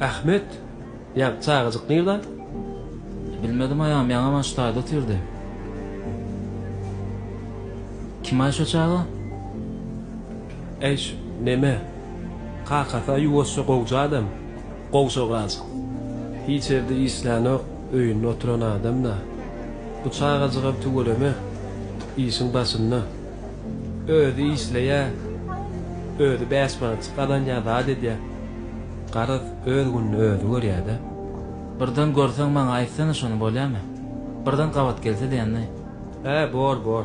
Ahmet! Ýaňky çagajyk nirde? Bilmedim aýam, ýaňaman şu taýda otyrdy. Kim-aý şo çaga? Äý, şu neme? Kakasy-a ýuwaşja gowja adam. Gowşagaz. Hiç ýerde işlänok, öýünde oturan adam-da. Bu çagajygam tüweleme, işiň başynda. Özi işleýä, özi bäş manatjyk gazanýa, zat edýä. Garaz, öz gününi özi görýä-dä. Birden görseň maňa aýtsana şony bolýamy? Birden gabat gelse diýenini. Hä, bor, bor.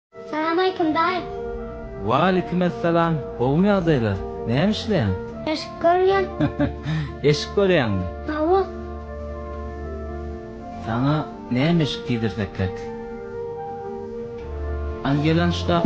Salamaýkum daýy. Walikim essalam gowymy ýagdaýlar? Näme işleýäň? Eşik görýän. Eşik görýäňmi? Hawa. Saňa näme eşik giydirsek gerk? An gelan şkaf.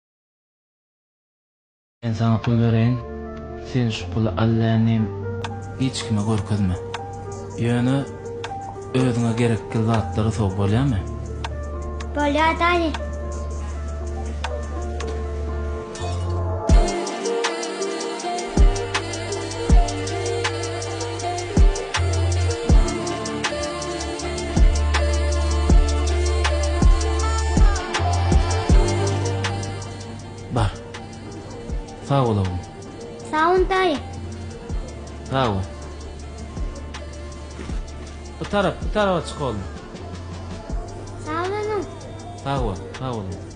Men saňa pul bereýin, sen şu puly allännim hiç kime görkezme. Ýöne özüňe gerekgil zatlary sow, bolýamy? Bolýar, daýy. Bar. Sag bol ogly. Sag bol daýy. Sag bol. Bu tarap, bu tarapa çyk ogly. Sag boluň. Sag bol, sag boluň.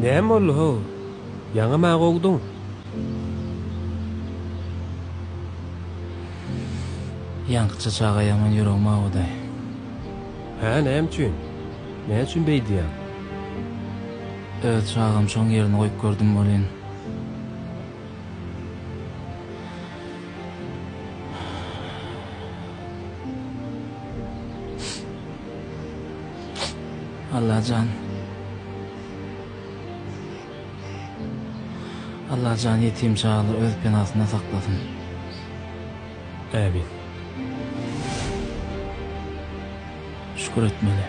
Näme boldy-how? Ýaňa maňa gowduň. Ýaňkyja çaga ýaman ýüregim awudy. Hä, näme üçin? Näme üçin beýdýäň? Öz çagam şoň ýerinde goýup gördüm welin, Allajan Allajan ýetim çagalary öz penasynda saklasyn. Ämin. Şükür etmeli.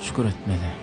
Şükür etmeli.